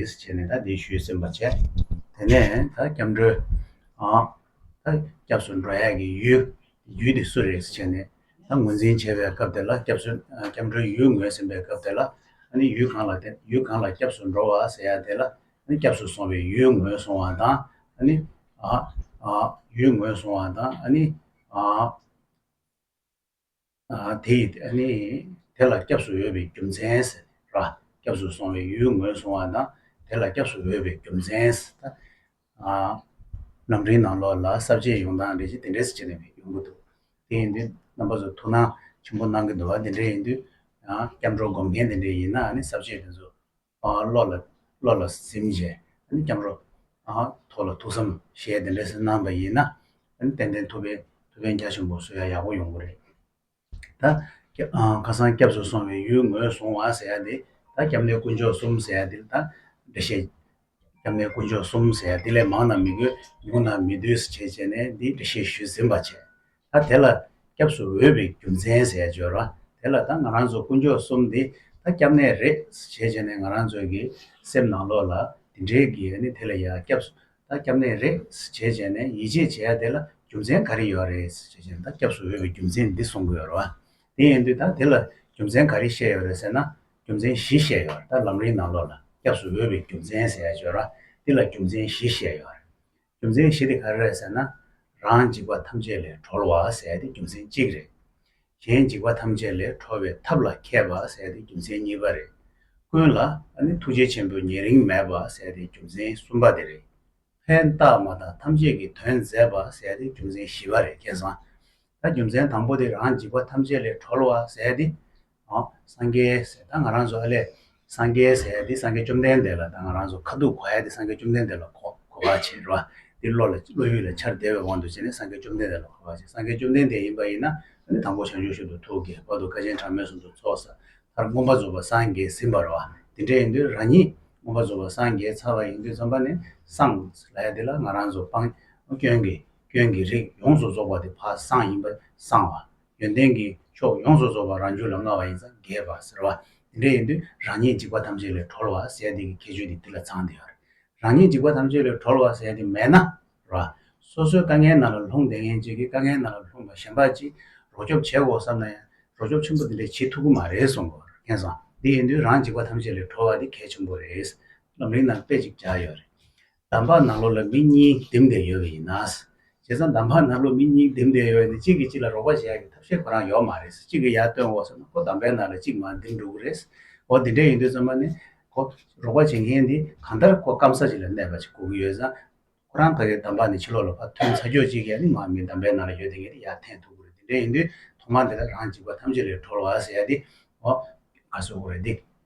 ཞེས་བྱས་ནས་ད་འདི་ཞུས་ཟིན་པ་བྱས། དེ་ནས་ད་སྐྱབས་འགྲོའི། ད་སྐྱབས་སུ་འགྲོ་ཡས་ཀྱི་ཡུལ། ཡུལ་དེ་སུ་རེད་ཟེར་བྱས་ནས། ད་ངོས་འཛིན་བྱས་པའི་སྐབས་དེ་ལ་སྐྱབས་སུ་སྐྱབས་འགྲོའི་ཡུལ་ངོས་ཟིན་པའི་སྐབས་དེ་ལ། ནི་ཡུལ་གང་ལ་དེ་ཡུལ་གང་ལ་སྐྱབས་སུ་འགྲོ་བ་ཟེར་ཡ་དེ་ལ། ནི་སྐྱབས་སུ་སོང་བའི་ཡུལ་ངོས་སོང་བ་དང། ནི། ཡུལ་ངོས་སོང་བ་དང། ནི། དེ་ཡི་ནི་དེ་ལ་སྐྱབས་སུ་འོས་པའི་རྒྱུ་མཚན། སྐྱབས་སུ་སོང་བའི་ཡུལ་ངོས་བཟུང་བ་ན་དེ་ལ་སྐྱབས་སུ་འོས་པའི་རྒྱུ་མཚན། ནམ་རིང་ནང་ལོགས་ལ་གསར་བརྗེའི་ཡོང་སྟངས་རེ་ཞིག་དེ་འདྲས་སུ་བྱས་ནས་ཡོང་གི་འདུག་དེ་ཡིན་དུས་རྣམ་པ་ཚོ་ཐུགས་སྣང་ཆེན་པོ་གནང་གི་འདུག་བ་དེ་འདྲས་ཡིན་དུས་སྐྱབས་འགྲོ་སྒོམ་མཁན་དེ་འདྲས་ཡིན་ན་གསར་བརྗེ་དེ་ཚོ་བློ་ལ་བློ་ལ་སེམས་བཞེས་ཨ་ནི་བསྐྱང་རོགས། ཐོག་ལ་ཐུགས་བསམ་བཞེས་དེ་འདྲ་སེ་གནང་ད་ཡིན་ན། ཨ་ནི་ཏན་ཏན་ཐུབ་པའི་ཐུབ་བསྟན་རྒྱ་ཆེན་པོ་བཟོ་ཡ་ཡག་པོ་ཡོང་གི་རེད། ད་ཁ་སང་སྐྱབས་སུ་སོང་བའི་ཡུལ་ངོས་བཟུང་བ་ཟེར་ཡ་འདི་ད་སྐྱབས་གནས་དཀོན་མཆོག་གསུམ་ཟེར་ཡ་འདི་ལ་ད་འགྲེལ་བཤད། སྐྱབས་གནས་དཀོན་མཆོག་གསུམ་ཟེར་ཡ་འདི་ལས་མང་ན་མི་དགོས་ཉུང་ན་མི་དུས་བྱས་བྱས་ནས་འདི་འགྲེལ་བཤད་ཞུས་ཟིན་པ་བྱས། ད་དེ་ལ་སྐྱབས་སུ་འོས་པའི་རྒྱུ་མཚན་ཟས་སྦྱོར་བ་དེ་ལ་ད་ང་རང་ཚོ་དཀོན་མཆོག་གསུམ་འདི་ད་སྐྱབས་གནས་རེད་ཟེར་བྱས་ནས་ང་རང་ཚོའི་གི་སེམས་ནང་ལོག་ལ་དེ་འདྲའི་གི་ནི་དེ་ལ་ཡ་སྐྱབས་སུ་ད་སྐྱབས་གནས་རེད་ཟེར་བྱས་བྱས་ནས་ཡིད་ཆེས་བྱས་ཡ་དེ་ལ་རྒྱུ་མཚན་ག་རེ་ཡོད་རེད་ཟེར་བྱས་བྱས་ནས་ད་སྐྱབས་སུ་འོས་པའི་རྒྱུ་མཚན་འདི་གསུང་གི་ཡོད་རེད་བ། དེ་ཡིན་དུས་ད་དེ་ལ་རྒྱུ་མཚན་ག་རེ་བཤད་ཡོད་རེད་ཟེར་ན་རྒྱུ་མཚན་བཞི་བཤད་ཡོད་རེད་ད་ལམ་རིང་ནང་ལོག་ལ་སྐྱབས་སུ་འོས་པའི་རྒྱུ་མཚན་ཟས་སྦྱོར་བ་འདི་ལ་རྒྱུ་མཚན་བཞི་བཤད་ཡོད་རེད། རྒྱུ་མཚན་བཞི་དེ་ག་རེ་རེད་ཟེར་ན། རང་འཇིགས་པ་ཐམས་ཅད་ལས་གྲོལ་བ་ཟེར་དེ་རྒྱུ་མཚན་གཅིག་རེད། གཞན་འཇིགས་པ་ཐམས་ཅད་ལས་གྲོལ་བའི་ཐབས་ལ་མཁས་པ་ཟེར་དེ་རྒྱུ་མཚན་གཉིས་པ་རེད། ཀུན་ལ་ནི་ཐུགས་རྗེ་ཆེན་པོས་ཉེ་རིང་མེད་པ་ཟེར་དེ་རྒྱུ་མཚན་གསུམ་པ་དེ་རེད། ཕན་བཏགས་མ་དག་ཐམས་ཅད་ཀྱི་དོན་མཛད་པ་ཟེར་དེ་རྒྱུ་མཚན་བཞི་པ་རེད་ཁྱེད་བཟང། ད་རྒྱུ་མཚན་དང་པོ་དེ་རང་འཇིགས་པ་ཐམས་ཅད་ལས་གྲོལ་བ་ཟེར་དེ། སངས་རྒྱས་ཟས་དང་ང་རང་བཟོ་ཨ་ལས། སངས་རྒྱས་ཟས་འདི་སངས་རྒྱས་བཅོམ་ལྡན་འདས་ལ་དང་ང་རང་བཟོ་ཁ་ཐུག་གོ་ཨ་འདི་སངས་རྒྱས་བཅོམ་ལྡན་འདས་ལ་གོ་གོ་བར་བྱེད་རེད་བ། འདི་བློ་ལ་བློ་ཡུལ་ལ་འཆར་བདེ་བའི་དབང་དུ་བྱས་ནས་སངས་རྒྱས་བཅོམ་ལྡན་འདས་ལ་གོ་བར་བྱེད་སངས་རྒྱས་བཅོམ་ལྡན་འདས་ཡིན་པ་ཡིན་ན་ཨ་ནི་དང་པོ་བྱང་ཆུབ་ཤིན་ཏུ་ཐུགས་ཀྱི་བར་དུ་ཀ་ཆེན་ཕྲ་མོའི་གཟུགས་སུ་ཚོགས་བསགས་མཐར་མངོན་པར་རྫོགས་པར་སངས་རྒྱས་ཟིན་པར་བ། འདི་འདྲ་ཡིན་དུས་རང་ཉིད་མངོན་པར་རྫོགས་པར་སངས་རྒྱས་ཚར་བ་ཡིན་དུས་བརྩོན་པ་ནི་སངས་ལས་འདི་ལ་ང་རང་བཟོ་སྤང། སྐྱོན་གྱི་སྐྱོན་གྱི་རིགས་ཡོངས་སུ་རྫོགས་པ་འདི་ཕ་སངས་ཡིན་པ་སངས་བ། ཡོན་ཏན་གྱི་མཆོག་ཡོངས་སུ་རྫོགས་པ་རང་རྒྱུད་ལ་མངའ་བ་ཡིན་ཙང་རྒྱས་པ་ཟེར་བ་འདི་འདྲ་ཡིན་དུས་རང་ཉིད་འཇིགས་པ་ཐམས་ཅད་ལས་གྲོལ་བ་ཟས་དེ་གི་ཁྱད་ཆོས་དེ་འདི་ལ་ཚང་དེ་ཨར། རང་ཉིད་འཇིགས་པ་ཐམས་ཅད་ལས་གྲོལ་བ་ཟས་དེ་མེད་ན། ར། སོ་སོའི་དཀའ་ངལ་རྣམས་ལ་ལྷུང་བདེ་ངན་བཅས་ཀྱི་དཀའ་ངལ་རྣམས་ལ་ལྷུང་བ་གཞན་པ་ཅིས་རོགས་སྐྱོབ་བྱེད་དགོ་བསམ་ན་ཡང་རོགས་སྐྱོབ་ཆེན་པོ་འདི་འདྲ་བྱེད་ཐུབ་ཀྱི་མ་རེད་གསུངས་པ་ཨར། ཁེངས་སང་འདི་ཡིན་དུས་རང་འཇིགས་པ་ཐམས་ཅད་ལས་གྲོལ་བ་དེ་གལ་ཆེན་པོ་རེད། ལམ་རིང་ནང་དཔེ་ཅིག་བརྒྱག་ཡོད་རེད། འདམ་བག་ནག་ལོ་ལ་མི་གཉིས་འདེམས་བསྡད་ཡོད་པ་ཡིན་ན། བྱས་ཙང་འདམ་བག་ནག་ལོ་མི་གཉིས་འདེམས་བསྡད་ཡོད་ནི་གཅིག་གིས་གཅིག་ལ་རོགས་པ་བྱས་ཡག་གི་ཐབས་ཤེས་ཁོ་རང་ཡོག་མ་རེད་ཟེར་གཅིག་གིས་ཡར་བཏོན་འོག་སོང་ན་ཁོ་འདམ་བག་ནག་ལ་གཅིག་མ་འདེམས་འགྲོ་གི་རེད། འོ་དེ་འདྲ་ཡིན་དུས་ཚང་མ་ནི། ཁོ་རོགས་པ་བྱེད་མཁན་དེ་གང་ལྟར་ཁོ་སྐམ་ས་ཅིག་ལ་གནས་པ་ཅིག་གོ་གི་ཡོད་ཙང། ཁོ་རང་ག་གེར་འདམ་བག་ནི་ཕྱི་ལོག་ལ་ཕར་ཐོན་ཚ་རྒྱོག་ཅིག་ཡ་ནི་མ་མི་འདམ་བག་ནག་ལ་ཡོད་བསྡད་མཁན་དེ་ཡར་འཐེན་ཐུབ་གི་རེད་དེ་འདྲ་ཡིན་དུས་ཐོག་མ་དེ་ལ་རང་འཇིགས་པ་ཐམས་ཅད་ལས་གྲོལ་བ་ཟེར་ཡག་དེ། འོ། ག་སོ་གོ་རེད་དེ།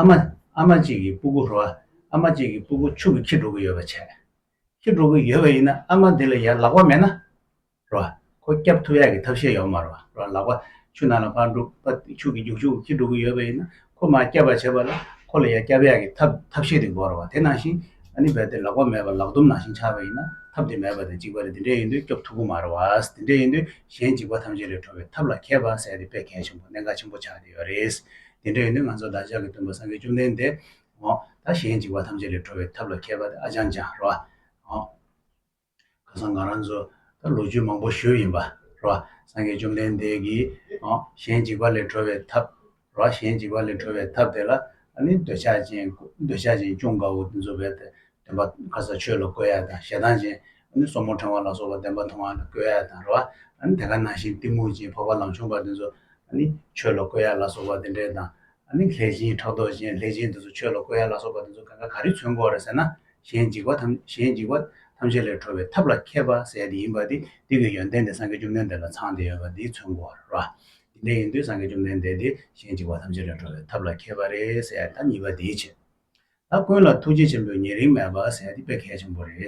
ཨ་མ། ཨ་མ་གཅིག་གིས་སྤུ་གུ་རོ། ཨ་མ་གཅིག་གིས་སྤུ་གུ་ཕྱུགས་ཀྱི་ཁྱི་འགྲོ་གི་ཡོད་པ་བྱས། ཁྱི་འགྲོ་གི་ཡོད་པ་ཡིན་ན་ཨ་མ་འདི་ལ་ཡར་ལག་པ་མེད་ན་རོ། ཁོ་སྐྱབས་ཐུབ་ཡག་གི་ཐབས་ཤེས་ཡོད་མ་རོ། རོ་ལག་པ་ཆུ་ནང་ལ་འཕར་འདུག་པ་ཕྱུགས་ཀྱི་རྒྱུག་ཕྱུགས་ཀྱི་ཁྱི་འགྲོ་གི་ཡོད་པ་ཡིན་ན་ཁོ་མ་སྐྱབས་པ་བྱས་པ་ལ་ཁོ་ལ་ཡར་སྐྱབས་ཡག་གི་ཐབས་ཐབས་ཤེས་དེ་དགོས་རོ། དེ་ནང་བཞིན་ཨ་ནི་རྦད་དེ་ལག་པ་མེད་པར་ལག་དུམ་ནང་བཞིན་འཕྱར་བ་ཡིན་ན་ཐབས་དེ་མེད་པ་དང་འཇིགས་པ་ལས་འདི་འདྲས་ཡིན་དུས་སྐྱོབས་ཐུབ་གི་མ་རོ། འདི་འདྲས་ཡིན་དུས་གཞན་འཇིགས་པ་ཐམས་ཅད་ལས་གྲོལ་བའི་ཐབས་ལ་མཁས་པ་བསལ་ཏེ་དཔེ་གལ་ཆེན་པོ་གནད་འགག་ཆེན་པོ་ཆགས་ཏེ་ཡོད་རེད། དེ་འདྲའི་ཡོན་ཏན་ང་ཚོ་བདག་ཅག་གི་སྟོན་པ་སངས་རྒྱས་བཅོམ་ལྡན་འདས། ད་གཞན་འཇིགས་པ་ཐམས་ཅད་ལས་གྲོལ་བའི་ཐབས་ལ་མཁས་པ་ཨ་ཅང་ཅང། ཁ་སང་ང་རང་ཚོ་ད་ལོ་རྒྱུས་མང་པོ་ཞུས་ཡིན་པ། སངས་རྒྱས་བཅོམ་ལྡན་འདས་ཀྱིས། གཞན་འཇིགས་པ་ལས་གྲོལ་བའི་ཐབས། གཞན་འཇིགས་པ་ལས་གྲོལ་བའི་ཐབས་དེ་ལ་ནི་འདོད་ཆགས་ཅན་ཀུན་དགའ་བོ་འཛུམ་པའི་སྟོན་པ་ཁ་སང་ཆོས་ལ་བཀོད་ཡག་དང་ཞེ་སྡང་ཅན་ནི་སོར་མོ་འཕྲེང་བ་ལ་སོགས་པ་བདེན་པ་མཐོང་བ་ནི་བསྐོས་ཡ་དང་རོ། དེ་ཀ་ནང་བཞིན་གཏི་མུག་ཅན་འཕགས་པ་ལམ་ཆུང་བ་དེ་ཚོ། ནི་ཆོས་ལ་བསྐོས་ཡ་ལ་སོགས་པ་དེ་འདྲའི་དང། ནི་ལྷས་བྱིན་ཕྲག་དོག་ཅན་ལྷས་བྱིན་དེ་ཚོ་ཆོས་ལ་བསྐོས་ཡ་ལ་སོགས་པ་དེ་ཚོ་ག་ང་ག་རེ་མཚོན་གོ་རེ་ཟེར་ན། གཞན་འཇིགས་པ་གཞན་འཇིགས་པ་ཐམས་ཅད་ལས་གྲོལ་བའི་ཐབས་ལ་མཁས་པ་ཟད་དེ་ཡིན་པ་དེ་དུས་ཀྱི་ཡོན་ཏན་དེ་སངས་རྒྱས་བཅོམ་ལྡན་འདས་ལ་ཚང་སྟེ་ཡོད་པ་དེ་མཚོན་གོ་རོ། དེ་འདྲ་ཡིན་དུས་སངས་རྒྱས་བཅོམ་ལྡན་འདས་དེ་གཞན་འཇིགས་པ་ཐམས་ཅད་ལས་གྲོལ་བའི་ཐབས་ལ་མཁས་པ་རེ་ཟད་ད་གཉིས་པ་དེའི་ཕྱིར། ད་ཀུན་ལ་ཐུགས་རྗེ་ཆེན་པོའི་ཉེ་རིང་མེད་པ་ཟེར་དེ་དཔེ་གལ་ཆེན་པོ་རེད།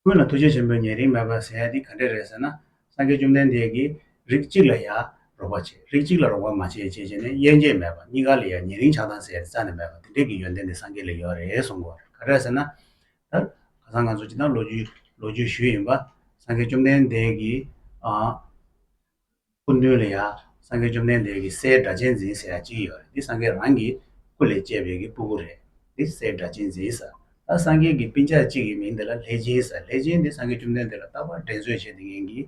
ཀུན་ལ་ཐུགས་རྗེ་ཆེན་པོའི་ཉེ་རིང་མེད་པ་ཟེར་དེ་ག་འདྲས་རེད་ཟེར་ན། སངས་རྒྱས་བཅོམ་ལྡན་འདས་ཀྱིས་རིགས་གཅིག་ལ་ཡང་རོགས་པ་བྱེད་རིགས་གཅིག་ལ་རོགས་པ་མ་བྱེད་ཅེས་བྱས་ནས་དབྱེ་འབྱེད་མེད་པར་གཉིས་ཀ་ལ་ཡང་ཉེ་རིང་ཆགས་སྡང་ཟེར་དེ་རྩ་ནས་མེད་པ་དེ་འདྲས་ཀྱི་ཡོན་ཏན་དེ་སངས་རྒྱས་ལ་ཡོད་རེད་གསུང་གོ། ག་འདྲས་ཟེར་ན། ད་ག་སང་ང་ཚོ་སྤྱི་དང་ལོ་རྒྱུས་ལོ་རྒྱུས་ཞུས་ཡིན་པ། སངས་རྒྱས་བཅོམ་ལྡན་འདས་ཀྱིས། སྐུ་མདུན་ལ་ཡང་སངས་རྒྱས་བཅོམ་ལྡན་འདས་ཀྱི་སའི་སྒྲ་གཅན་འཛིན་ཟེར་ཡ་གཅིག་ཡོད་རེད་འདི་སངས་རྒྱས་རང་གི་སྐུ་ལས་བསྐྱེད་པའི་གི་སྤུ་གུ་རེད་འདི་སའི་སྒྲ་གཅན་འཛིན་ཟེར་ད་སངས་རྒྱས་ཀྱི་སྤིན་ཆག་གཅིག་གི་མིང་འདི་ལ་ལྷས་སྦྱིན་ཟེར་ལྷས་སྦྱིན་འདི་སངས་རྒྱས་བཅོམ་ལྡན་འདས་ལ་རྟག་པར་དྲན་གསོས་བྱེད་དེ་ངན་གི་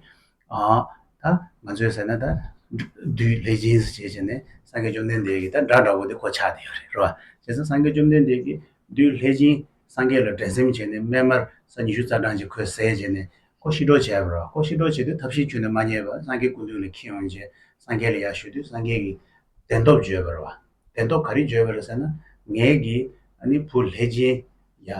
ད་ང་ཚོས་ཟེར་ན་ད་བདུད་ལྷས་སྦྱིན་ཟེར་བྱས་བྱས་ནས་སངས་རྒྱས་བཅོམ་ལྡན་འདས་ཀྱི་ད་སྒྲ་འདྲ་བོ་འདི་གོ་ཆག་དེ་ཡོད་རེད་རེད་བ་བྱས་ཙང་སངས་རྒྱས་བཅོམ་ལྡན་འདས་ཀྱི་བདུད་ལྷས་སྦྱིན་སངས་རྒྱས་ལ་འགྲན་སེམས་བྱས་ནས་སྨན་མར་ས་ཉི་ཤུ་རྩ་གྲངས་ཀྱི་གོས་ཟས་བྱས་ནས་ཀོ་ཤི་ཀྲོ་བྱས་པར་ཀོ་ཤི་ཀྲོ་བྱས་ཏེ་ཐབས་ཤེས་ཁྱོད་ནི་མ་རྙེད་པར་སངས་རྒྱས་ཀུན་འདུས་ལ་ཁྱེད་ཡོང་རྗེས་སངས་རྒྱས་ལ་ཡར་ཞུས་དུས་སངས་རྒྱས་ཀྱིས་བདེན་སྟོབས་བརྗོད་པར་བདེན་སྟོབས་ག་རེ་བརྗོད་པར་ཟེར་ན་ངེད་ཀྱི་ཨ་ནི་བུ་ལྷས་སྦྱིན། ཡ།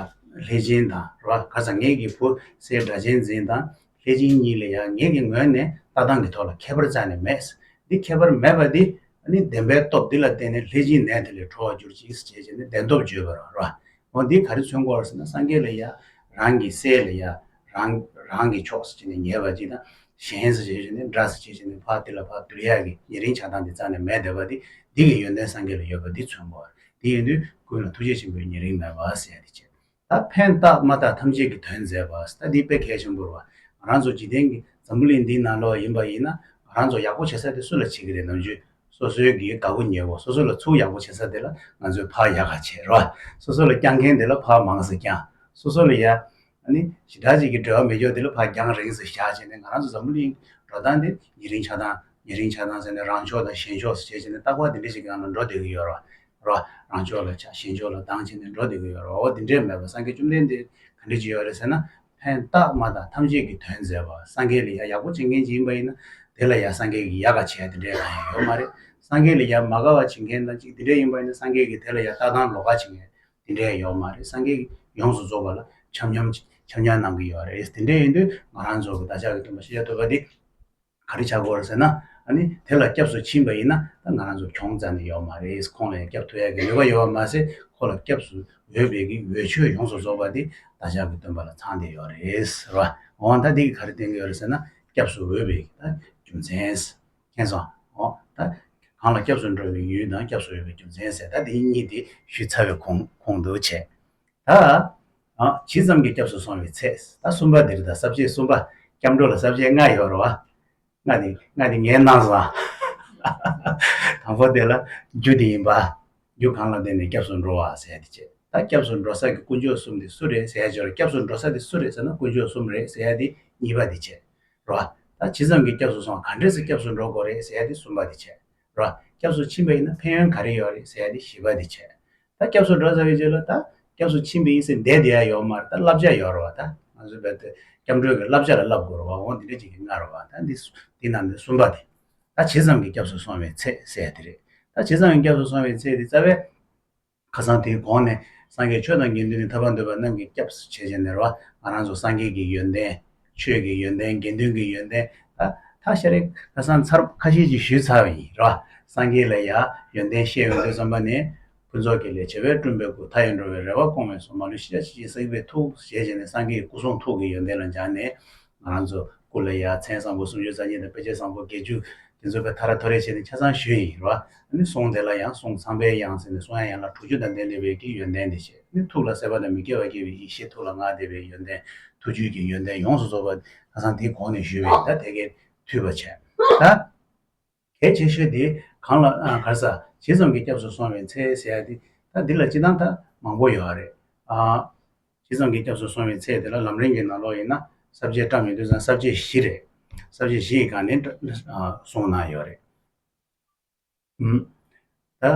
ལྷས་སྦྱིན་དང་ར་ག་ཚ་ངེད་ཀྱི་བུ་སྲས་སྒྲ་གཅན་འཛིན་དང་ལྷས་བྱིན་གཉིས་ལ་ཡང་ངེད་ཀྱི་ངོས་ནས་ལྟ་སྟངས་ཀྱི་ཐོག་ལ་ཁྱད་པར་རྩད་ནས་མེད། འདི་ཁྱད་པར་མེད་པ་འདི་ནི་བདེན་པའི་སྟོབས་འདི་ལ་བརྟེན་ནས་ལྷས་བྱིན་ནད་དེ་ལས་གྲོལ་བར་གྱུར་ཅིག་ཅེས་བྱས་ནས་བདེན་སྟོབས་བརྗོད་པར་བར་བ། འོ་འདི་ག་རེ་མཚོན་གོ་ཟེར་ན་སངས་རྒྱས་ལ་ཡང་རང་གི་སྲས་ལ་ཡང་རང་རང་གི་ཕྱོགས་སུ་བྱས་ནས་ཉེས་པ་ཅིག་དང་གཞན་སུ་བྱས་ནས་འདྲ་སུ་བྱས་ནས་ཕ་དེ་ལ་ཕ་བདུད་ཡག་གི་ཉེ་རིང་ཆགས་སྡང་འདི་རྩ་ནས་མེད་བསྡད་པ་འདི་འདི་གི་ཡོན་ཏན་སངས་རྒྱས་ལ་ཡོད་པ་འདི་མཚོན་གོ། དེ་ཡིན་དུས་ཀུན་ལ་ཐུགས་རྗེ་ཆེན་པོའི་ཉེ་རིང་མེད་པ་ཟད་དེ་བྱས། ད་ཕན་རྟགས་མ་དག་ཐམས་ཅད་ཀྱི་དོན་མཛད་པ་སྟ་དེའི་དཔེ་གལ་ཆེན་པོར་བ། རང་ཚོ་འཇིག་རྟེན་གྱི་འཛམ་བུ་གླིང་འདིའི་ནང་ལོགས་ཡིན་པ་ཡིན་ན་རང་ཚོ་ཡག་པོ་བྱེད་ས་དེ་སུ་ལ་བྱེད་ཀྱི་རེད་ནམ་ཅོས་སོ་སོའི་གི་དགའ་པོ་ཉེ་བོ་སོ་སོ་ལ་ཚུར་ཡག་པོ་བྱེད་ས་དེ་ལ་ང་ཚོས་ཕག་ཡག་ག་བྱེད་རོ། སོ་སོ་ལ་བསྐྱངས་མཁན་དེ་ལ་ཕག་མང་ཟེར་བསྐྱངས། སོ་སོ་ལ་ཡ། ནི། ཞི་དྲག་བྱེད་ཀྱི་འགྲོ་བ་མི་མགྱོགས་དེ་ལ་ཕག་འགྱངས་རིང་ཟེར་བཞག་བྱས་ནས་ང་རང་ཚོ་འཛམ་བུ་གླིང་འགྲོ་སྟངས་དེ་ཉེ་རིང་ཆགས་སྟངས་ཉེ་རིང་ཆགས་སྟངས་ཟེར་ནས་རང་ཕྱོགས་དང་གཞན་ཕྱོགས་སུ་བྱས་བྱས་ནས་རྟག་པ་དེ་འདྲ་ཞིག་གི་ནང་ལ་འགྲོ་བསྡད་ཀྱི་ཡོད་རོ། རང་ཕྱོགས་ལ་ཆགས་གཞན་ཕྱོགས་ལ་སྡང་བྱས་ནས་འགྲོ་བསྡད་ཀྱི་ཡོད་རེད་འོ་འདི་འདྲས་མེད་པར་སངས་རྒྱས་བཅོམ་ལྡན་འདས་ག་འདྲས་བྱས་ཡོད་རེད་ཟེར་ན། ཕན་བཏགས་མ་དང་ཐམས་ཅད་ཀྱི་དོན་མཛད་པ་སངས་རྒྱས་ལས་ཡ་ཡག་པོ་བྱེད་མཁན་ཅིག་ཡིན་པ་ཡིན་ན། དེ་ལ་ཡ་སངས་རྒྱས་ཀྱིས་ཡ་ག་བྱས་དེ་འདྲས་གང་ཡང་ཡོད་མ་རེད། སངས་རྒྱས་ལས་ཡ་མ་ག་བ་བྱེད་མཁན་དང་ཅིག་དེ་འདྲས་ཡིན་པ་ཡིན་ན་སངས་རྒྱས་ཀྱིས་དེ་ལ་ཡ་ལྟ་སྟངས་ལོག་ག་བྱེད་མཁན་དེ་འདྲས་ཡོད་མ་རེད་སངས་རྒྱས་ཡོངས་སུ་རྫོགས་པ་ལ་འཆམ་འཆམ་གནང་གི་ཡོད་རེད་དེ་འདྲས་ཡིན་དུས་ང་རང་ཚོ་གི་བདག་ཅག་གི་སྟོན་པ་ཤེས་བྱ་ཐོས་པ་འདི། ག་རེ་བྱ་དགོས་ཟེར་ན། ནི་དེ་ལ་སྐྱབས་སུ་ཕྱིན་པ་ཡིན་ན་ད་ང་རང་ཚོ་གྱོང་རྩ་ནས་ཡོད་མ་རེད་ཁོང་ལ་ཡང་སྐྱབས་ཐོབ་ཡག་གི་ནུས་པ་ཡོད་པ་མ་ཟད་ཁོ་ལ་སྐྱབས་སུ་འོས་པའི་གི་འོས་ཆོས་ཡོངས་སུ་རྫོགས་པ་དེ་ད་ཅག་གི་སྟོན་པ་ལ་ཚང་དེ་ཡོད་རེད་ཟེར་བ་འོང་ད་དེ་གི་ག་རེ་བསྟན་གི་ཡོད་རེད་ཟེར་ན་སྐྱབས་སུ་འོས་པའི་གི་ད་རྒྱུ་མཚན། མཁྱེན་སོང་ཨོ་ད་གང་ལ་སྐྱབས་སུ་འགྲོ་བའི་ཡུལ་དང་སྐྱབས་སུ་འོས་པའི་རྒྱུ་མཚན་ཟེར་ད་དེ་གཉིས་དེ་ཞུས་ཚར་བའི་ཁོང་ཁོང་དུ་བྱས། ད་ཇི་ཙམ་གྱིས་སྐྱབས་སུ་སོང་བའི་ཚད། ད་གསུམ་པ་འདིར་ད་ཟབ་ཆོས་གསུམ་པ། སྐྱབས་འགྲོ་ལ་ཟབ་ཆོས་ལྔ་ཡོད་རོ། ལྔ་དེ་ལྔ་དེ་ངས་གནང་བཟང། དང་པོ་དེ་ལ་རྒྱུ་འདི་ཡིན་པ། རྒྱུ་གང་ལ་བརྟེན་ནས་སྐྱབས་སུ་འགྲོ་བ་ཟད་དེ་བྱེད། ད་སྐྱབས་སུ་འགྲོ་ས་ཀྱི་དཀོན་མཆོག་གསུམ་དེ་སུ་རེད་ཟེར་ཞོར་སྐྱབས་སུ་འགྲོ་ས་དེ་སུ་རེད་ཟེར་ན་དཀོན་མཆོག་གསུམ་རེད་ཟེར་ཡ་དེ་གཉིས་པ་དེ་བྱེད། རོ། ད་ཇི་ཙམ་གྱིས་སྐྱབས་སུ་སོང་ག་འདྲས་སུ་སྐྱབས་སུ་འགྲོ་དགོས་རེད་ཟེར་ཡ་དེ་གསུམ་པ་དེ་བྱེད། ར། སྐྱབས་སུ་ཕྱིན་པ་ཡིན་ན་ཕན་ཡོན་ག་རེ་ཡོད་རེད་ཟེར་ཡ་ཞི་བ་དེ་བྱས། ད་སྐྱབས་སུ་འགྲོ་ཟེར་བའི་རྗེས་ལ་ད་སྐྱབས་སུ་ཕྱིན་པའི་ཡིན་ཟེར་འདས་དེ་ཡ་ཡོད་མ་རེད་ད་བསླབ་བྱ་ཡོད་རེད་བ་ད་ང་ཚོའི་བོད་དུ་སྐྱབས་འགྲོའི་གི་བསླབ་བྱ་ལ་བསླབ་དགོས་རེད་བ་འོང་དེ་འདྲ་ཅིག་གི་ང་རེད་བ་ད་འདི་འདི་ནང་འདི་གསུམ་པ་དེ་ད་ཇི་ཙམ་གྱི་སྐྱབས་སུ་སོང་བའི་ཚད་ཟེར་དེ་རེད་ད་ཇི་ཙམ་གྱི་སྐྱབས་སུ་སོང་བའི་ཚད་དེ་རྩ་བའི། ཁ་སང་དེའི་གོང་ནས་སངས་རྒྱས་ཆོས་དང་དགེ་འདུན་ནི་ཐར་པར་འདོད་པ་རྣམས་ཀྱིས་སྐྱབས་སུ་བྱེད་ཅེས་ཟེར་བ་ང་རང་ཚོ་སངས་རྒྱས་ཀྱི་ཡོན་ཏན། ཆོས་ཀྱི་ཡོན་ཏན་དགེ་འདུན་གྱི་ཡོན་ཏན། ཐག་ཤ་རེ་ཁ་སང་ཚར་ཁ་ཤས་ཀྱིས་ཞུས་ཚར་བ་ཡིན་རེད་བ། སངས་རྒྱས་ལ་ཡང་ཡོན་ཏན་ཤས་ཡོད་འདོད་བསམ་པ་ནི། ཕུན་ཚོགས་ཀྱི་ལས་བྱེ་བས་བསྐྲུན་པའི་སྐུ་མཐའ་ཡས་འགྲོ་བའི་རེ་བ་སྐོང་བས་སོ་མ་ལུས་ཤེས་བྱ་ཇི་བཞིན་གསལ་བའི་ཐུགས་རྗེ་ཅན་ནི་སངས་རྒྱས་ཀྱི་སྐུ་གསུང་ཐུགས་ཀྱི་ཡོན་ཏན་ལ་སྦྱངས་ནས། ང་རང་ཚོ་སྐུ་ལ་ཡ་མཚན་བཟང་པོ་སུམ་ཅུ་རྩ་གཉིས་དང་དཔེ་ཆ་བཟང་པོ་བརྒྱད་ཅུ་དེ་ཚོ་བས་ཐ་ར་ཐོ་རེ་བྱས་ནས་ཆ་ཚང་ཞུས་ཡིན་རོ། ནི་གསུང་དེ་ལ་ཡང་གསུང་ཚངས་པའི་དབྱངས་ཟེར་ནས་གསུང་ཡང་ཡང་ལ་དྲུག་ཅུ་དང་ལྡན་ནི་བའི་ཀྱི་ཡོན་ཏན་དེ་བྱས་ནི་ཐུགས་ལ་སད་པ་དང་མི་སྐྱེ་བ་སྐྱེ་བའི་ཡེ་ཤེས་ཐུགས་ལ་མངའ་དེ་བའི་ཡོན་ཏན་ཐུགས་བཅུད་ཀྱི་ཡོན་ཏན་ཡོངས་སུ་རྫོགས་པ་ཁ་སང་དེའི་གོང་ནས་ཞུས་པས་ད་དེ་ཀའི་མཐུས་པ་བྱས། ད། གལ་ཆེ་ཤོས་དེ་གང་ལ་གར་ས་ཇི་ཙམ་གྱིས་སྐྱབས་སུ་སོང་བའི་ཚེ་ཟེར་ཡ་དེ་ད་འདི་ལ་སྤྱི་བཏང་ད་མང་པོ་ཡོད་རེད། ཇི་ཙམ་གྱིས་སྐྱབས་སུ་སོང་བའི་ཚེ་དེ་ལ་ལམ་རིང་གི་ནང་ལོགས་ཡིན་ན་གསར་བརྗེ་སྤྲ་མི་འདུག་ཙང་གསར་བརྗེ་བཞི་རེད། གསར་བརྗེ་བཞི་ཡི་སྒང་ནས་སོང་གནང་ཡོད་རེད། ད།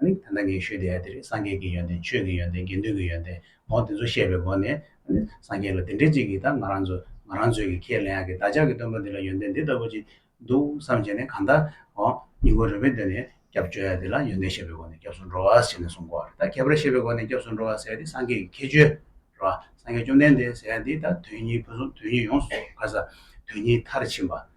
ད་ལྟ་ངས་ཞུས་བསྡད་དེ་རེད་སངས་རྒྱས་ཀྱི་ཡོན་ཏན་ཆོས་ཀྱི་ཡོན་ཏན་དགེ་འདུན་གྱི་ཡོན་ཏན་ངོ་དེ་ཚོ་བཤད་པའི་སྒོ་ནས་སངས་རྒྱས་ལ་དེ་འདྲས་ཅིག་གིས་ད་ང་རང་ཚོ་ང་རང་ཚོས་ཀྱིས་ཁས་ལེན་ཡག་གི་བདག་ཅག་གི་སྟོན་པ་འདི་ལ་ཡོན་ཏན་འདི་ལྟ་བུ་ཅིག་འདུག་བསམ་བྱས་ནས་གང་ལྟར་ཨོ་སྙིང་ཁོང་རེ་བས་འདོད་ནས་སྐྱབས་བཅོལ་ཡ་དེ་ལ་ཡོན་ཏན་བཤད་པའི་སྒོ་ནས་སྐྱབས་སུ་འགྲོ་བ་ཟེར་ནས་གསུངས་གོ་ད་ཁྱད་པར་བཤད་པའི་སྒོ་ནས་སྐྱབས་སུ་འགྲོ་བ་ཟེར་དེ་སངས་རྒྱས་ཀྱི་ཁྱད་ཆོས་རེད་བ་སངས་རྒྱས་བཅོམ་ལྡན་འདས་ཟེར་དེ་ད་དོན་གཉིས་ཕུན་སུམ་དོན་གཉིས་ཡོངས་སུ་ག་ས་དོན་གཉིས་མཐར་ཕྱིན་པ།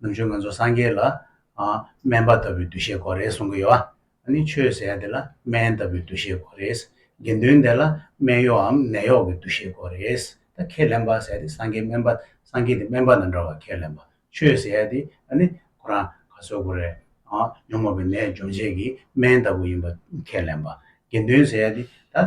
ནུབ་ཕྱོགས་ང་ཚོ་སངས་རྒྱས་ལ། སྨན་པ་ལྟ་བུའི་འདུ་ཤེས་དགོས་རེད་གསུང་གི་ཡོད། ཨ་ནི་ཆོས་ཟེར་ཡ་དེ་ལ་སྨན་ལྟ་བུའི་འདུ་ཤེས་དགོས་རེད། དགེ་འདུན་དེ་ལ་སྨན་གཡོགའམ་ནད་གཡོག་གི་འདུ་ཤེས་དགོས་རེད། ད་ཁས་ལེན་པ་ཟེར་ཡ་དེ་སངས་རྒྱས་སྨན་པ་སངས་རྒྱས་དེ་སྨན་པ་དང་འདྲ་བར་ཁས་ལེན་པ། ཆོས་ཟེར་ཡ་དེ་ཨ་ནི་ཁོ་རང་ག་བཟོད་དགོས་རེད། ཉོན་མོངས་པའི་ནད་སྦྱོང་བྱེད་ཀྱི་སྨན་ལྟ་བུ་ཡིན་པ་ཁས་ལེན་པ། དགེ་འདུན་ཟེར་ཡ་དེ་ད།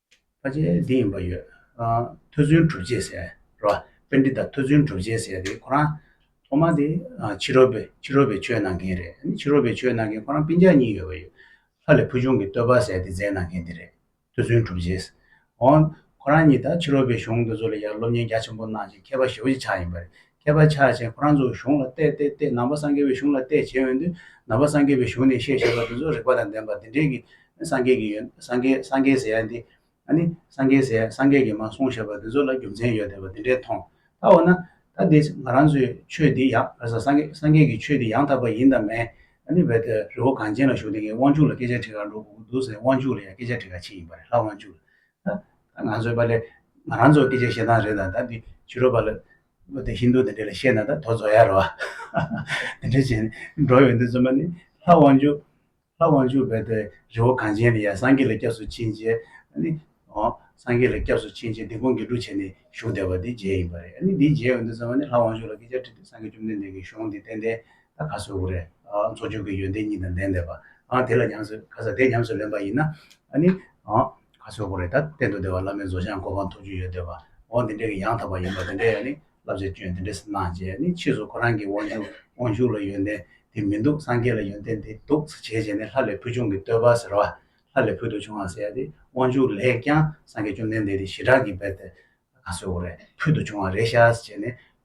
ཕ་ཆེན་འདི་ཡིན་པ་ཡོད། ཐོས་བརྩོན་གྲུབ་རྗེས་ཟེར་རེད་བ། དཔེ་འདི་དང་ཐོས་བརྩོན་གྲུབ་རྗེས་ཟེར་རེད་ཁོ་རང། ཐོག་མ་དེ་ཕྱི་རོལ་པའི་ཕྱི་རོལ་པའི་ཆོས་གནང་མཁན་རེད། ཕྱི་རོལ་པའི་ཆོས་གནང་མཁན་ཁོ་རང་སྤིན་ཆགས་གཉིས་ཡོད་པ་ཡོད། ལྷ་ལས་ཕུལ་བྱུང་གི་བསྟོད་པ་ཟེར་དེ་མཛད་གནང་མཁན་དེ་རེད། ཐོས་བརྩོན་གྲུབ་རྗེས། འོན། ཁོ་རང་གཉིས་དང་ཕྱི་རོལ་པའི་གཞུང་དེ་ཚོ་ལ་ཡར་སློབ་གཉེར་རྒྱ་ཆེན་པོ་གནང་ཞིང་མཁས་པ་ཞེ་བོ་ཅིག་ཆགས་ཡིན་པ་རེད། མཁས་པ་ཆགས་བྱས་ཁོ་རང་ཚོའི་གཞུང་ལ་བལྟས་བལྟས་བལྟས་ནང་པ་སངས་རྒྱས་པའི་གཞུང་ལ་བལྟས་བྱས་འོན་ཏེ་ནང་པ་སངས་རྒྱས་པའི་གཞུང་ནས་བཤད་ཞེས་པ་དེ་ཚོ་རིགས་པ་དང་ལྡན་པ་དེ་འདྲའི་གི་སངས་རྒྱས་ཀྱི་ཡོད་སངས་རྒྱས་སངས་རྒྱས་ཟེར་ཡ་འདི་ཨ་ནི་སངས་རྒྱས་ཟེར་ཡ་སངས་རྒྱས་ཀྱིས་མ་གསུངས་ཞེས་པ་དེ་ཚོ་ལ་རྒྱུ་མཚན་ཡོད་བསྡད་པ་དེ་འདྲའི་མཐོང་ད་འོ་ན་ད་འདི་ང་རང་ཚོའི་ཆོས་འདི་ཡ་ཨ་ཟ་སངས་རྒྱས་སངས་རྒྱས་ཀྱི་ཆོས་འདི་ཡང་དག་པ་ཡིན་དང་མེད་ཨ་ནི་བལྟས་བལྟས་རི་བོ་གངས་ཅན་ལ་བཞུགས་ཏེ་ངའི་དབང་ཕྱུག་ལ་སྐད་ཆ་དྲིས་ག་འགྲོ་གི་འདུག་ཟེར་དབང་ཕྱུག་ལ་ཡང་སྐད་ཆ་དྲིས་ག་ཕྱིན་ཡིན་པ་རེད་ལྷ་དབང་ཕྱུག་ལ་ང་ཚོའི་པ་ལས་ང་རང་ཚོ་སྐད་ཆ་བཤད་སྟངས་རེད་ད་ད་འདི་ཕྱི་རོལ་པ་ལ་དེ་ཧིན་རྡུ་དེ་འདྲས་ལ་བཤད་ན་ད་དོ་བཟོ་ཡ་རོ། དེ་འདྲས་བྱས་ནས་འགྲོ་ཡོང་དུས་རྩོམ་པ་ནི་ལྷ་དབང་ཕྱུག་ལྷ་དབང་ཕྱུག་བས་དེ་རི་བོ་གངས་ཅན་ལ་ཡར་སངས་རྒྱས་ལ་སྐྱབས་སུ་ཕྱིན་རྗེས་ནི་ཨོ། སངས་རྒྱས་ལ་སྐྱབས་སུ་ཕྱིན་རྗེས་དེ་ཁོང་གིས་འབྲུ་བྱས་ནས་བཞུགས་བསྡད་པ་དེ་རྗེས་ཡིན་པ་རེད་ཨ་ནི་འདིའི་རྗེས་ཡོང་དུས་རྩོམ་པ་ནི་ལྷ་དབང་ཕྱུག་ལ་སྐད་ཆ་དྲིས་དུས་སངས་རྒྱས་བཅོམ་ལྡན་འདས་ཀྱིས་གཞུང་འདི་བསྟན་ཏེ་ད་ཁ་སོས་འོ་རེད། མཚོ་བྱུང་གི་ཡོན་ཏན་གཉིས་དང་ལྡན་འདས་པ། དེ་ལ་ཉམས་སུ་ཁ་ས་དེ་ཉམས་སུ་ལེན་པ་ཡིན་ན། ནི། ཁ་སོས་འོ་རེད་ད། གཏན་དུ་འདས་པ་བླ་མའི་བཟོ་ཞང་གོ་འཕང་ཐོབ་རྒྱུ་ཡོད་འདོད་པ། འོ་འདི་འདྲའི་གི་ཡང་དག་པ་ཡིན་པ་དེ་འདྲའི་ཡང་ནི་བསླབ་བྱ་སྐྱོན་དེ་འདྲའི་སེ་སྣང་བྱས་ནི་ཕྱིས་སུ་ཁོ་རང་གི་དབང་ཕྱུག་དབང་ཕྱུག་ལ་ཡོན་ཏན་དེ་མི་འདུག་སངས་རྒྱས་ལ་ཡོན་ཏན་དེ་འདུག་ཟེ་བྱས་བྱས་ནི་ལྷ་ལས་ཕུལ་བྱུང་གི་བསྟོད་པ་ཟེར་བ། ལྷ་ལས་ཕུལ་དུ་བྱུང་བ་ཟེར་ཏེ་དབང་ཕྱུག་ལས་ཀྱང་སངས་རྒྱས་བཅོམ་ལྡན་འདས་དེ་ཞི་དྲག་གིས་བས་ཏེ། ཁ་སོས་འོ་རེད་ཕུལ་དུ་བྱུང་བ་རེད་ཤག་ཟེ་བྱས་ནི།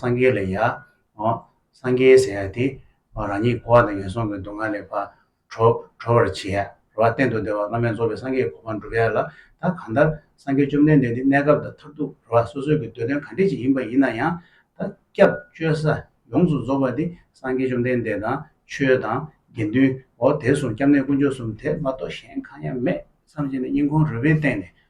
སངས་རྒྱས་ལས་ཡ། སངས་རྒྱས་ཟེར་ཡ་དེ། རང་ཉིད་འཁོར་བ་དང་ངན་སོང་གི་སྡུག་བསྔལ་ལས་བར་གྲོལ་བར་བྱེད་ཡ། རོ་བ་གཏན་དུ་བདེ་བ་བླ་མེད་རྫོགས་པའི་སངས་རྒྱས་གོ་འཕང་བསྒྲུབ་ཡ་ལ། ད་གང་ལྟར་སངས་རྒྱས་བཅོམ་ལྡན་འདས་འདི་གནས་སྐབས་དང་མཐར་ཐུག་རོ་བ་སོ་སོའི་གི་འདོད་དོན་ག་འདྲས་ཅིག་ཡིན་པ་ཡིན་ན་ཡང། ད་སྐྱབས་བཅོལ་ས་ཡོངས་སུ་རྫོགས་པ་འདི་སངས་རྒྱས་བཅོམ་ལྡན་འདས་དང་ཆོས་དང་དགེ་འདུན་འོ་དེ་གསུང་སྐྱབས་གནས་དཀོན་མཆོག་གསུམ་དེ་མ་གཏོགས་གཞན་གང་ཡང་མེད་བསམ་བྱས་ནས་སྙིང་ཁོང་རུས་པའི་སྟེང་ནས་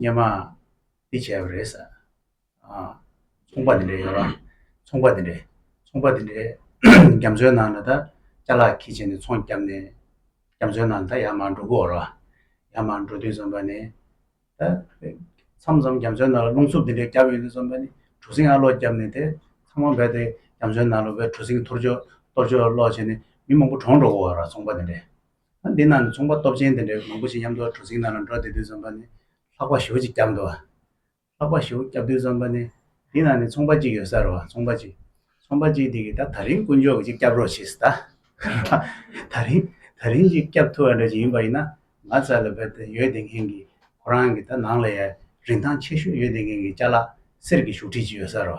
སྙན་མ་འདི་བྱས་པ་རེད། ཚོང་པ་འདི་འདྲ་ཡོད། ཚོང་པ་འདི་འདྲ། ཚོང་པ་འདི་འདྲ། རྒྱ་མཚོའི་ནང་ལ་ད་བཅའ་ལག་ཁྱི་བྱས་ནས་ཚོང་བརྒྱབ་ནས། རྒྱ་མཚོའི་ནང་ད་ཡར་མར་འགྲོ་གི་འོར་བ། ཡར་མར་འགྲོ་དུས་བསམ་པ་ནི། ད་མཚམས་མཚམས་རྒྱ་མཚོའི་ནང་ལ་རླུང་འཚུབ་འདི་འདྲ་བརྒྱབ་ཡོང་དུས་བསམ་པ་ནི། གྲུ་གཟིངས་ཨ་ལོག་བརྒྱབ་ནས་དེ་ཚང་མ་རྦད་དེ་རྒྱ་མཚོའི་ནང་ལ་བས་གྲུ་གཟིངས་ཐོར་ཅོག་གཏོར་ཅོག་ལོག་བྱས་ནས་མི་མང་པོ་གྲོངས་འགྲོ་གི་འོར་བ་ཚོང་པ་འདི་འདྲ། འདི་རྣམས་ནི་ཚོང་པ་སྟོབས་ཆེན་དེ་འདྲའི་མང་པོ་ཞིག་མཉམ་དུ་གྲུ་གཟིངས་ནང་ལ་འགྲོ་བདེ་དུས་འཛོམས་པ་ནི་ལྷག་པ་ཞོ་གཅིག་བསྐྱབས་འདུག་ལྷག་པ་ཞོ་བསྐྱབས་དུས་འཛོམས་པ་ནི་འདི་ནང་ནས་ཚོང་པ་གཅིག་ཡོད་ས་རུ་ཚོང་པ་གཅིག་ཚོང་པ་གཅིག་དེ་གིས་ད་ད་རིང་དཀོན་མཆོག་གིས་ཅིག་བསྐྱབས་རོགས་ཞེས་ད་ད་རིང་ད་རིང་ཅིག་བསྐྱབས་ཐུབ་པ་འདྲ་ཅིག་ཡིན་པ་ཡིན་ན་ང་ཚ་ལ་བོད་དེ་ཡོད་བདེ་མཁན་གྱིས་ཁོ་རང་གི་ད་ནང་ལ་ཡ་རིན་ཐང་ཆེ་ཤོས་ཡོད་བདེ་མཁན་གྱིས་བཅའ་ལག་གསེར་གྱི་བཞུགས་ཁྲི་གཅིག་ཡོད་ས་རུ།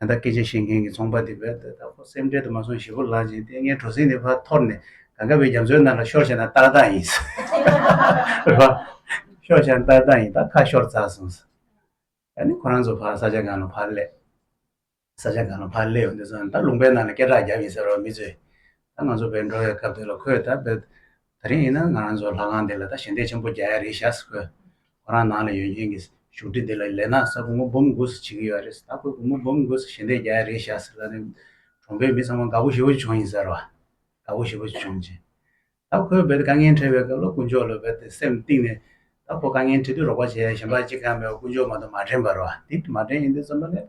ད་ལྟ་སྐད་ཆ་བཤད་མཁན་གྱི་ཚོང་པ་དེ་བས་ད་ལྟ་ཁོ་སེམས་ཁྲལ་དུ་མ་སོང་ཞེ་པོ་ལགས་ཀྱིས་ལྟས་ངན་གྲོ་སིང་དེ་ཕར་འཐོར་ནས་གངས་ཀ་བའི་རྒྱ་མཚོའི་ནང་ལ་ཤོར་བྱས་ན་ཏག་ཏག་ཡིན། རེད་པཱ། ཤོར་བྱས་ན་ཏག་ཏག་ཡིན་ད་ཁ་ཤོར་རྩ་སོང། ད་ནི་ཁོ་རང་ཚོ་ཕར་ས་ཆ་གང་ལ་ཕར་སླེབས། ས་ཆ་གང་ལ་ཕར་སླེབས་འདི་ཚོ་ད་ལུང་པའི་ནང་ལ་སྐད་གྲགས་རྒྱབ་ཡིན་ཟེར་བ་མི་ཚོས། ད་ང་ཚོ་བས་འགྲོ་བའི་སྐབས་དེ་ལ་ཁོས་ད་བས། ད་རིང་ཡིན་ན་ང་རང་ཚོ་ལྷ་ཁང་འདི་ལ་ད་ཞལ་འདེབས་ཆེན་པོ་རྒྱག་ཡ་རེད་བཞག་སུ་ཁོ་རང་ནང་ལ་ཡོད་མཁན་གྱི་བཞུགས་ཁྲི་འདི་ལ་ལས་ནག་གསར་བུ་མོ་འབུམ་དགུ་སུ་བྱེད་ཀྱི་ཡོད་རེད་ཟེར་ད་ཁོས་བུ་མོ་འབུམ་དགུ་སུ་ཞལ་འདེབས་རྒྱག་ཡ་རེད་བཞག་ཟེར་ལ་ནི་གྲོང་པའི་མི་ཚང་མ་དགའ་བོ་ཞེ་བོ་བྱུང་ཡིན་ཟེར་རོ། དགའ་བོ་ཞེ་བོ་བྱུང་རྗེས། ད་ཁོས་རྦད་དེ་དཀའ་ངལ་འཕྲད་པའི་སྐབས་ལ་དཀོན་མཆོག་ལ་རྦད་དེ་སེམས་གཏིང་ནས་ད་ཁོ་དཀའ་ངལ་འཕྲད་དུས་རོགས་པ་བྱེད་ཡ་གཞན་པ་གཅིག་ཀྱང་མེད་པར་དཀོན་མཆོག་མ་དང་མ་དྲན་པར་རོ། དེ་མ་དྲན་ཡིན་དུས་རྩོམ་པ་ལས་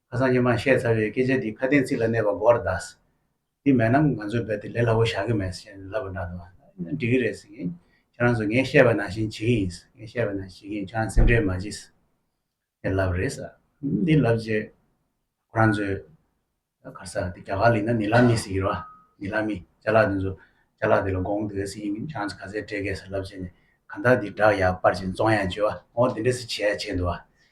ཁ་སང་ཉི་མ་བཤད་ཚར་བའི་སྐད་ཆ་འདི་ཁ་དན་ཚིག་ལ་གནས་པ་སྒོར་གདགས། འདི་མེད་ན་ང་ཚོས་རྦད་དེ་ལས་སླ་བོ་བཞག་གི་མེད་ཟེར་བཞིན་ལབ་པ་འདྲ་འདུག་ཨ། འགྲིག་གི་རེད་ཟེར་གིན། ཁྱེད་རང་ཚོ་ངས་བཤད་པ་ནང་བཞིན་བྱེད་ཀྱི་ཡིན། ངས་བཤད་པ་ནང་བྱེད་ཀྱི་ཡིན་ཁྱེད་རང་སེམས་ཁྲལ་མ་བྱེད། ཞེས་ལབ་རེད་ཟེར། འདི་ལབ་རྗེས། ཁོ་རང་ཚོས། གར་ས་འདི་རྒྱ་གར་ལིག་ན་ནི་ལ་མི་ཟེར་གི་རོ། ནི་ལ་མི། བྱ་ལག་འདི་ཚོ། བྱ་ལག་འདི་ལ་དགོངས་འདུག་ཟེར་གྱིན་ཁྱེད་རང་ཚོ་ག་ཚད་སྤྲད་ཀྱི་ཟེར་ལབ་རྗེས་ནས། གང་ལྟར་འདི་བསྒྲགས་ཡག་པར་བྱེད་རྩོང་ཡག་བྱོས། འོ་འདི་འདྲ་སི་བྱས་ཡག་བྱས་འདུག།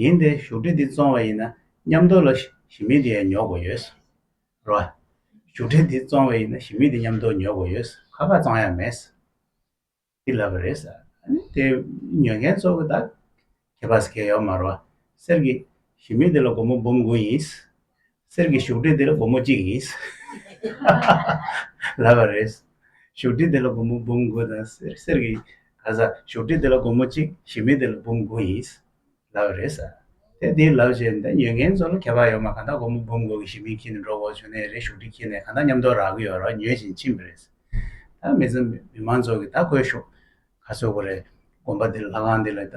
ཡིན་ཏེ་བཞུགས་ཁྲི་འདི་བཙོང་བ་ཡིན་ན་མཉམ་དོར་ལ་ཞི་མི་དེ་ཡང་ཉོ་དགོས་ཡོད། རེད་བ། བཞུགས་ཁྲི་འདི་བཙོང་བ་ཡིན་ན་ཞི་མི་དེ་མཉམ་དོར་ཉོ་དགོས་ཡོད། ཁ་ཁ་བཙོང་ཡ་མེད། འདི་ལབ་པ་རེད། དེ་ཉོ་མཁན་གཙོ་བོ་ད་གེ་བ་ཟེར་མཁན་ཡོད་མ་རེད་བ། གསེར་གྱི་ཞི་མི་དེ་ལ་སྒོར་མོ་འབུམ་དགུ་ཡིན། གསེར་གྱི་བཞུགས་ཁྲི་འདི་ལ་སྒོར་མོ་གཅིག་ཡིན། ལབ་པ་རེད། བཞུགས་ཁྲི་འདི་ལ་སྒོར་མོ་འབུམ་དགུ་དང། གསེར་གྱི། ག་ས། བཞུགས་ཁྲི་འདི་ལ་སྒོར་མོ་གཅིག་ཞི་མི་འདི་ལ་འབུམ་དགུ་ཡིན། ལབ་པ་རེད། དེ་འདི་ལབ་བྱས་ནས་ཉོས་མཁན་ཚོ་ལ་ཁྱད་པར་ཡོད་མ་གང་ལྟར་སྒོར་མོ་འབུམ་དགུ་གི་ཞི་མི་འཁྱིལ་ནས་འགྲོ་འོག་བྱུང་ནས་རེད་བཞུགས་ཁྲི་འཁྱིལ་ནས་གང་ལྟར་ཉམས་རྟོགས་རག་གི་ཡོད་རོགས་ཉོས་བཞིན་ཕྱིན་པ་རེད། ད་མི་ཚང་མི་མང་ཚོགས་ཀྱིས་ད་ཁོའི་བཞུགས། ག་ཚོད་དགོས་རེད། དགོན་པ་འདི་ལ་ལྷ་ཁང་འདི་ལ་ད།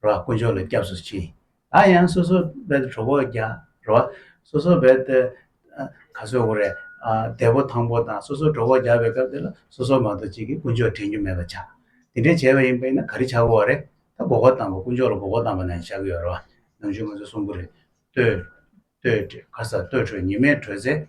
ར་བ་དཀོན་མཆོག་ལ་སྐྱབས་སུ་མཆི། ད་ཡང་སོ་སོ་བལ་དུ་གྲོགས་པོ་རྒྱ། ར་བ། སོ་སོ་བལ་དུ། ག་སོའི་འོ་རེ། དལ་པོ་ཐང་པོ་དང་སོ་སོ་གྲོགས་པོ་རྒྱ་བའི་སྐབས་དེ་ལ་སོ་སོ་མ་གཏོགས་གཅིག་གིས་དཀོན་མཆོག་དྲན་རྒྱུ་མེད་པར་བྱ། དེ་འདྲའི་བྱས་པ་ཡིན་པས་ན་ག་རེ་བྱ་དགོས་བ་རེད། ད་འགོག་པ་དང་པོ་དཀོན་མཆོག་ལ་འགོག་པ་དང་པོ་ན་ཡང་བྱ་གི་ཡོད་ར་བ། ནམ་ཕྱེད་ང་ཚོའི་གསུང་པོ་རེད། ལྟོས། ལྟོས། ཁ་ས་ལྟོས་གྲོས་ཉི་མས་གྲོས་ཚེ།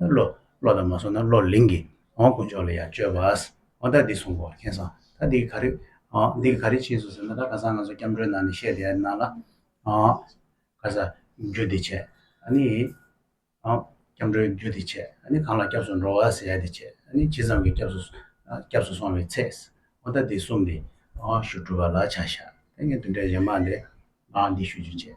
བློ། བློ་དང་མ་བཟུང་ན་བློ་ལིང་གི། འོང་དཀོན་མཆོག་ལ་ཡང་བཅོལ་བ། འོ་ད་འདི་གསུང་གོ་མཁྱེན་སོང། ད་འདི་ག་རེ། འདི་ག་རེ་བྱས་སོང་ཟེར་ན་ད་ག་ས་ང་ཚོ་སྐྱབས་འགྲོའི་ནང་ནས་བཤད་བསྡད་ནང་ལ། ག་ས། རྒྱུད་སྡེ་ཆེ། ཨ་ནི། སྐྱབས་འགྲོའི་རྒྱུད་སྡེ་ཆེ། ཨ་ནི་གང་ལ་སྐྱབས་སུ་འགྲོ་བ་ཟེར་ཡ་དེ་ཆེ། ཨ་ནི་ཇི་ཙམ་གྱི་སྐྱབས་སུ། སྐྱབས་སུ་སོང་བའི་ཚད། འོ་ད་འདི་གསུམ་འདི། ཞུ་སྒྲུབ་པ་ལ་བྱ་བཞག། ད་ངས་འདི་འདྲའི་ཡན་མར་འདི། འདི་ཞུ་རྒྱུ་བྱས།